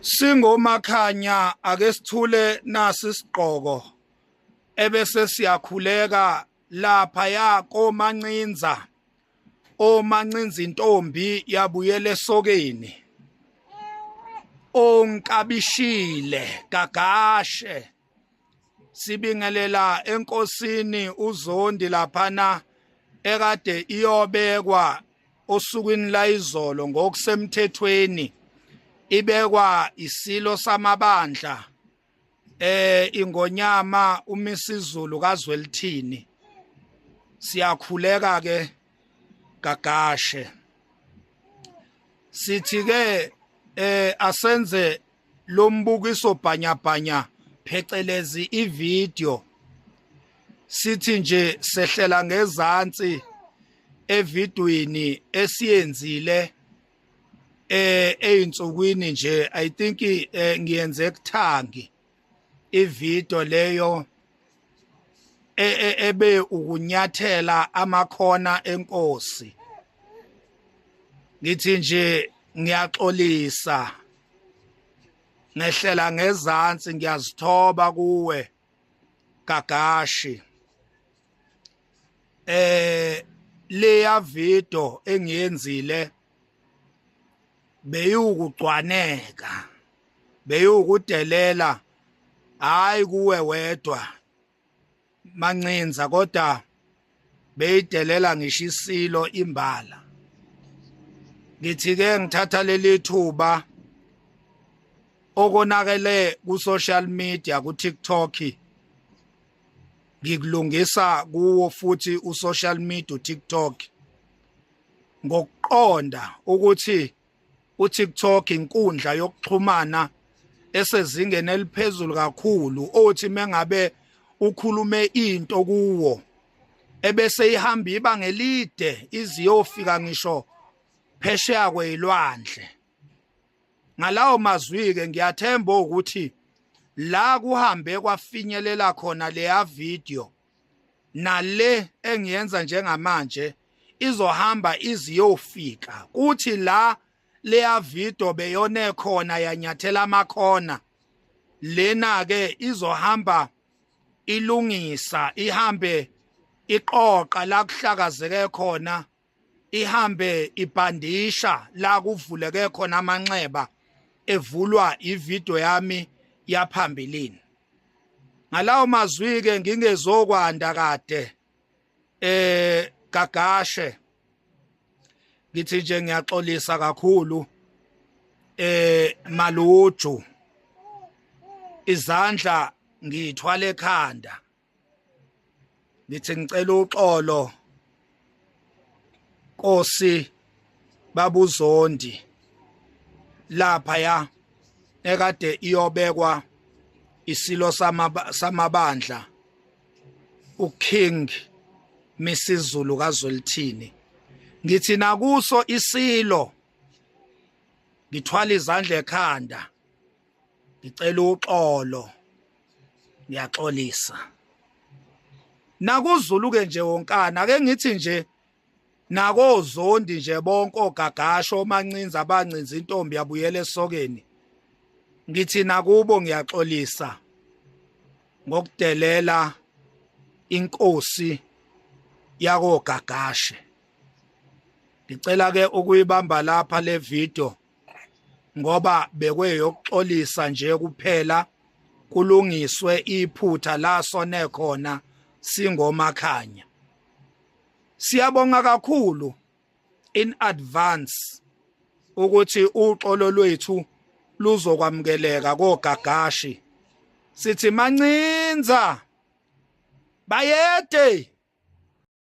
Singomakhanya ake sithule nasi sigqoko ebese siyakhuleka lapha ya komancinza omancinza intombi yabuyela esokeni onkabishile gagashe sibingelela enkosini uzondi laphana ekade iyobekwa osukwini layizolo ngokusemthethweni ibekwa isilo samabandla eh ingonyama umisizulu kazwelithini siyakhuleka ke gagashe sithi ke eh asenze lombukiso bhanyabhanya phecelezi ivideo sithi nje sehlela ngezansi evidweni esiyenzile eh einsukwini nje i think eh, ngiyenze kuthangi ivideo leyo e, e, ebe ukunyathela amakhona enkosi ngithi nje ngiyaxolisa ngehlela ngezansi ngiyazithoba kuwe gagashi eh leya video engiyenzile beyiwukugcwaneka beyiwukudelela hayi kuwe wedwa mancinza kodwa beyidelela ngisho isilo imbala ngithi ke ngithatha leli thuba okonakele ku social media ku TikTok ngikulungisa kuwo futhi u social media u TikTok ngokuqonda ukuthi uTikTok inkundla yokuxhumana esezingeni eliphezulu kakhulu othi mengabe ukhulume into kuwo ebese ihamba iba ngelide iziyofika ngisho phesheya kweyilwandle ngalawo mazwi ke ngiyathemba ukuthi la kuhambe kwafinyelela khona leya video nale engiyenza njengamanje izohamba iziyofika kuthi la leya video beyone khona yanyathela amakhona lena ke izohamba ilungisa ihambe iqoqa la kuhlakazeke khona ihambe ibhandisha la kuvuleke khona amanxeba evulwa ivideo yami yaphambilini ngalawo mazwi ke ngingezokwanda kade eh gagashe ngithi nje ngiyaxolisa kakhulu eh maluju izandla ngithwale ekhanda ngithi ngicela uxolo Nkosi babuzondi lapha ya ekade iyobekwa isilo samabandla uKing Misizulu kaZwelithini ngithi nakuso isilo ngithwala izandla ekhanda ngicela uxolo ngiyaxolisa nakuzulu-ke nje wonkana ake ngithi nje nakozondi nje bonke ogagasho omancinza abancinza intombi yabuyela esokeni ngithi nakubo ngiyaxolisa ngokudelela inkosi yakogagashe ngicela ke ukuyibamba lapha le video ngoba bekweyokuxolisa nje kuphela kulungiswe iphutha la sone khona singomakhanya siyabonga kakhulu in advance ukuthi uxolo lwethu luzokwamukeleka kogagashi sithi mancinza bayede